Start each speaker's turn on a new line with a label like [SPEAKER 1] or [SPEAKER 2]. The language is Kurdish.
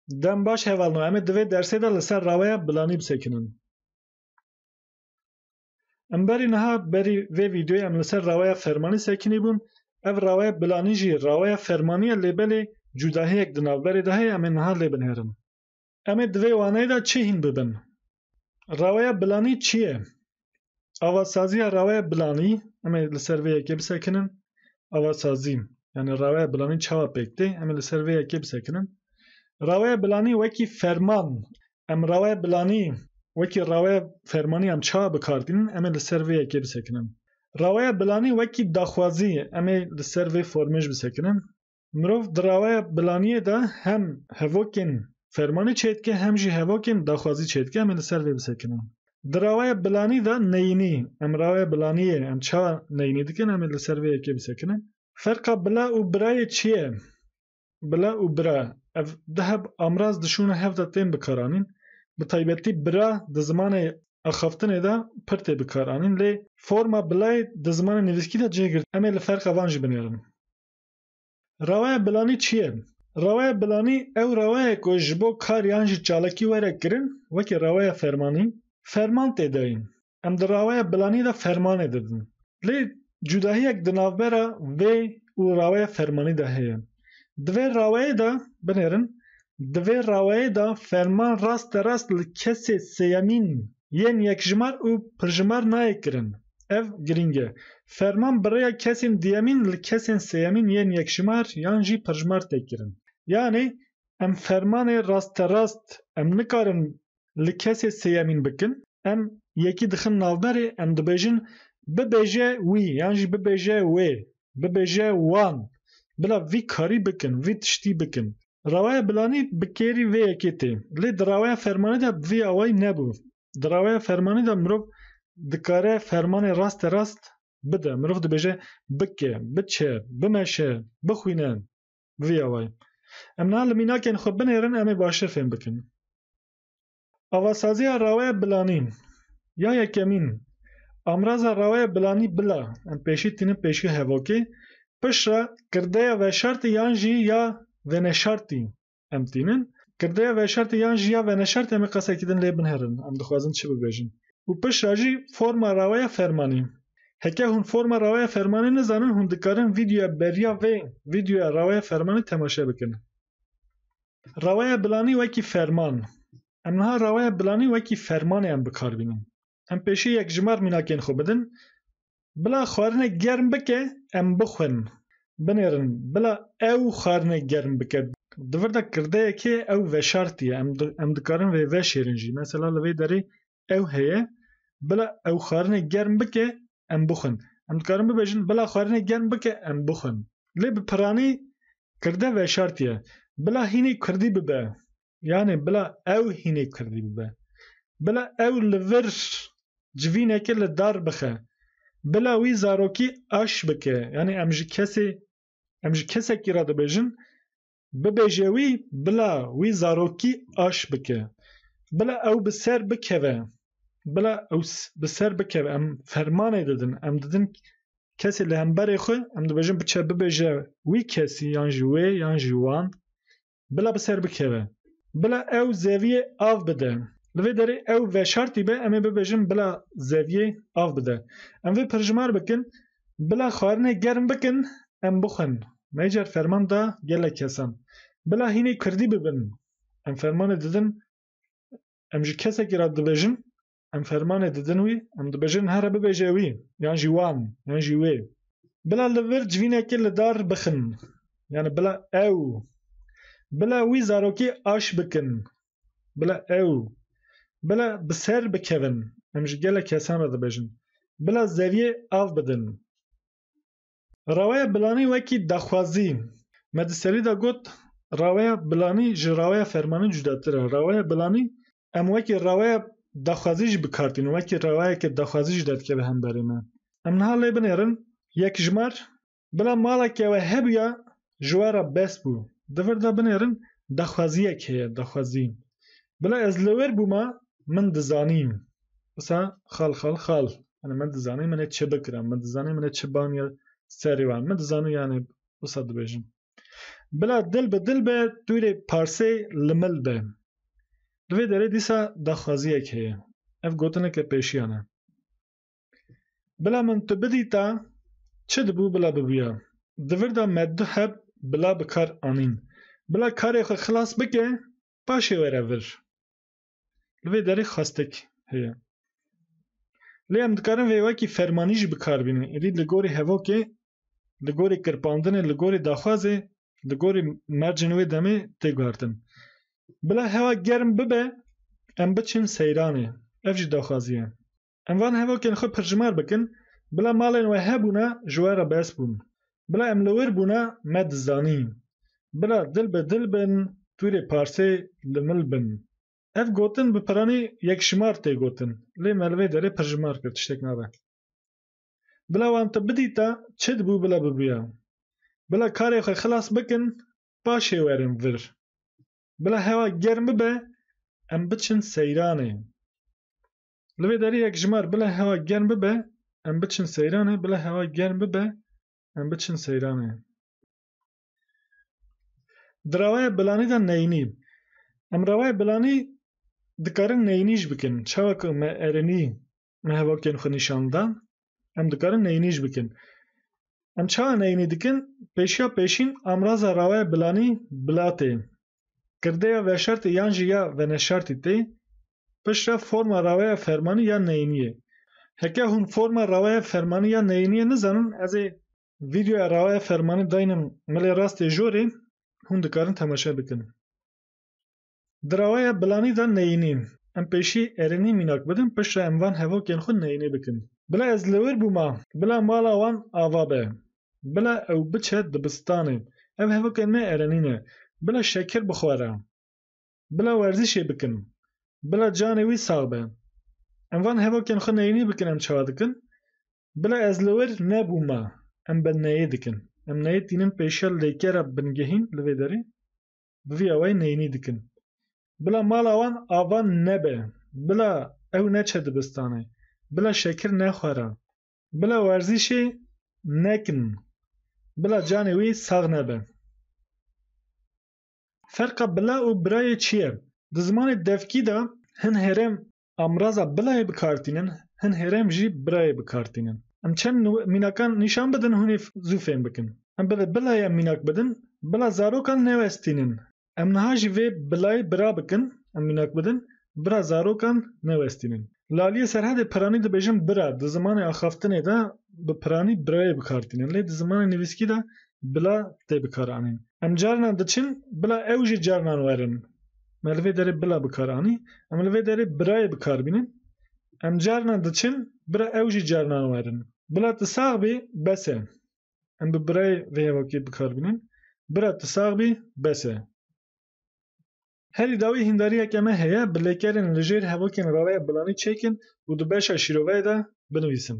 [SPEAKER 1] Dem baş hevalno. Em ê di vê dersê de li ser raweya bilanî bisekinin. Em berî niha berî vê vîdeoyê em li ser raweya fermanî sekinî bûn. Ev raweya bilanî jî raweya fermanî ye lê belê cûdahiyek di navberê de heye em ê niha lê binêrin. Em ê di vê waneyê de çi hîn bibin? Reweya bilanî çi ye? Avasaziya reweya bilanî, em ê li ser vê yekê bisekinin. Avasazî, yanî reweya bilanî çawa pêk tê? Em ê li ser vê yekê bisekinin. Reweya bilanî wekî ferman, em reweya bilanî wekî reweya fermanî em çawa bi kar tînin? Em ê li ser vê yekê bisekinin. Reweya bilanî wekî daxwazî, em ê li ser vê formê jî bisekinin. Mirov di raweya bilaniyê de hem hevokên fermanî çêdike hem jî hevokên daxwazî çêdike em ê li ser vê bisekinin. Di raweya bilanî de neyînî, em raweya bilaniyê em çawa neyînî dikin em ê li ser vê yekê bisekinin. Ferqa bila û birayê çi ye? Bila û bira ev du heb amraz di şûna hev de tên bikaranîn. Bi taybetî bira di zimanê axaftinê de pir tê bikaranîn lê forma bilayê di zimanê nivîskî de cih girtiye. Em ê li ferqa van jî binêrin. Rewaya bilanî çi ye? Rewaya bilanî ew rewayek ku ji bo kar yan jî çalakî were kirin wekî rewaya fermanî, ferman tê dayîn. Em di rewaya bilanî de fermanê didin. Lê cudahiyek di navbera vê û rewaya fermanî de heye. Di vê rewayê de, binêrin, di vê rewayê de ferman rasterast li kesê sêyemîn yên yekjimar û pirjimar nayê kirin. Ev girîng e. Ferman bi rêya kesên duyemîn li kesên sêyemîn yên yekjimar yan jî pirjimar tê kirin. Yanê em fermanê rasterast em nikarin li kesê sêyemîn bikin. Em yekî dixin navberê em dibêjin bibêje wî yan jî bibêje wê, bibêje wan. Bila vî karî bikin, vî tiştî bikin. Rawaya Bilanî bi kêrî vê yekê tê. Lê di rawaya fermanê de bi vî awayî nebû. Di rewaya fermanî de mirov dikare fermanê raste rast bide. Mirov dibêje bike, biçe, bimeşe, bixwîne. Bi vî awayî. Em niha li mînakên xwe binêrin em ê baştir fêm bikin. Avasaziya rewaya bilanî ya yekemîn Amraza rewaya bilanî bila, em pêşî tînin pêşî hevokê, piştre, kirdeya veşartî yan jî ya veneşartî em tînin. Kirdeya veşertê yan jî ya veneşertê em ê qesekî din lê binherin, em dixwazin çi bibêjin. Û piştre jî forma raweya fermanê. Heke hûn forma raweya fermanê nizanin hûn dikarin vîdyoya beriya vê vîdyoya raweya fermanê temaşe bikin. Raweya bilanî wekî ferman. Em niha raweya bilanî wekî fermanê em bikar bînin. em pêşî yek ji mar mînakên xwe bidin, bila xwarine germ bike em bixwin, binêrin bila ew xwarine germ bike. Di vir de kirdeyekê ew veşartiye, em dikarin vê veşêrin jî. Mesela li vê derê ew heye, bila ew xwarine germ bike em bixwin. Em dikarin bibêjin bila xwarine germ bike em bixwin. Lê bi piranî kirde veşartiye. Bila hînî kurdî bibe. Yanê bila ew hînê Kurdî bibe. Bila ew li vir civîneke li dar bixe. Bila wî zarokî aş bike. Yanê em ji kesê em ji kesekî re dibêjin bibêje wî bila wî zarokî aş bike. Bila ew bi ser bikeve. Bila ew bi ser bikeve. Em fermanê didin. Em didin kesê li hemberê xwe em dibêjin biçe bibêje wî kesî yan ji wê yan ji wan bila bi ser bikeve. Bila ew zeviyê av bide. Li vê derê ew veşartî be em ê bibêjin bila zeviyê av bide. Em vê pirjimar bikin, Bila xwarinê germ bikin em bixwin. Me car ferman da gelek kesan. Bila hînê kurdî bibin. Em fermanê didin, em ji kesekî re dibêjin Em fermanê didin wî, em dibêjin here bibêje wî, yan jî wan, yan jî wê. Bila li vir civînekê li dar bixin, yani bila ew, bila wî zarokê aş bikin, bila ew, bila bi ser bikevin, em ji gelek kesan re dibêjin, bila zeviyê av bidin. Raweya Bilanî wekî daxwazî. Me di serî de got raweya bilanî ji raweya fermanî cudatir e. Raweya bilanî em wekî raweya daxwazî jî bi kar tînin. Wekî rawayeke daxwazî jî derdikeve hemberî me. Em niha lê binêrin, Yekjmar, bila maleke we hebûya ji we re bes bû. Di vir de binêrin daxwaziyek heye, daxwazî. Bila ez li wir bûma min dizanîn. Wisa xal xal xal. Yanê min dizanîn min ê çi bikirin, min dizanîn min ê çi baniya serê wan. Min dizanî yanê wisa dibêjim. Bila dil bi dil be tu rê parsê li mil be. Di vê derê dîsa daxwaziyek heye. Ev gotineke pêşiyan e. Bila min tu bidîta çi dibû bila bibûya. Di vir de me du heb bila bi kar anîn. Bila karê xwe xilas bike paşê were vir. Li vê derê xastek heye. Lê em dikarin vê wekî fermanî jî bi kar bînin. Êdî li gorî hevokê, li gorî kirpandinê, li gorî daxwazê, li gorî mercên wê demê tê guhertin. Bila hewa germ bibe em biçin seyranê. Ev jî daxwazî ye. Em van hevokên xwe pircimar bikin, bila malên we hebûne ji we re bes bûn, bila em li wir bûne me dizanî, bila dil bi dil bin tûrê parsê li mil bin. Ev gotin bi piranî yekşimar tê gotin, lê me li vê derê pircimar kir tiştek nabe. Bila wan te bidîta çi dibû bila bibûya. Bila karê xwe xilas bikin paşê werin vir. Bila hewa germ bibe em biçin seyranê. Li vê derê yekjimar bila hewa germ bibe em biçin seyranê, bila hewa germ bibe em biçin seyranê. Di rewaya bilanî de neyînî. Em rewaya bilanî dikarin neyînî jî bikin. Çawa ku me erinî me hevokên xwe nîşan dan, Em dikarin neyînî jî bikin. Em çawa neyînî dikin? Pêşiya pêşîn amraza rawaya bilanî bila tê. Kirdeya veşertî yan jî ya veneşertî tê. Pişt re forma rawaya fermanî ya neyînî ye. Heke hûn forma rawaya fermanî ya neyînî ye nizanin ez ê vîdeoya rawaya fermanî dayînim milê rastê jorê hûn dikarin temaşe bikin. Di rewaya bilanî de neyînî. Em pêşî erênî mînak bidin piştre em van hevokên xwe neyînî bikin. Bila ez li wir bûma. Bila mala wan ava be. Bila ew biçe dibistanê. Ev hevokên me erênî ne. Bila şekir bixwere. Bila werzîşê bikin. Bila canê wî sax be. Em van hevokên xwe neyînî bikin em çawa dikin? Bila ez li wir nebûma. Em bi neyê dikin. Em neyê tînin pêşiya lêkera bingehîn li vê derê. bi vî awayî neyînî dikin. Bila mala wan ava nebe, bila ew neçe dibistanê, bila şekir nexwere, bila werzîşê nekin, bila canê wî sax nebe. Ferqa bila û birayê çi ye? Di zimanê devkî de hin herêm Amraza bilayê bikartînin, hin hêrem jî birayê bikartînin. Em çend mînakan nîşan bidin hûnê zû fêm bikin. Em bi vê bilayê em mînak bidin, bila zarokan newestînin. Em niha jî vê bilayê bira bikin, em mînak bidin, bira zarokan newestînin. Laliyê Serhedê piranî dibêjin bira, di zimanê axaftinê de bi piranî birayê bikartînin. Lê di zimanê nivîskî de bila tê bikaranîn. Em carinan diçin, bila ew jî carinan werin. me li vê derê bila bi kar anî. Em li vê derê birayê bi kar bînin. Em carnan diçin bira ew jî carnan werin. Bila tu sax bî bes e. Em bi birayê vê hevokê bi kar bînin. Bira tu sax bî bes e. Herî dawî hîndariyeke me heye bi lêkerên li jêr hevokên raveya bilanî çêkin û di beşa şîroveyê de binivîsin.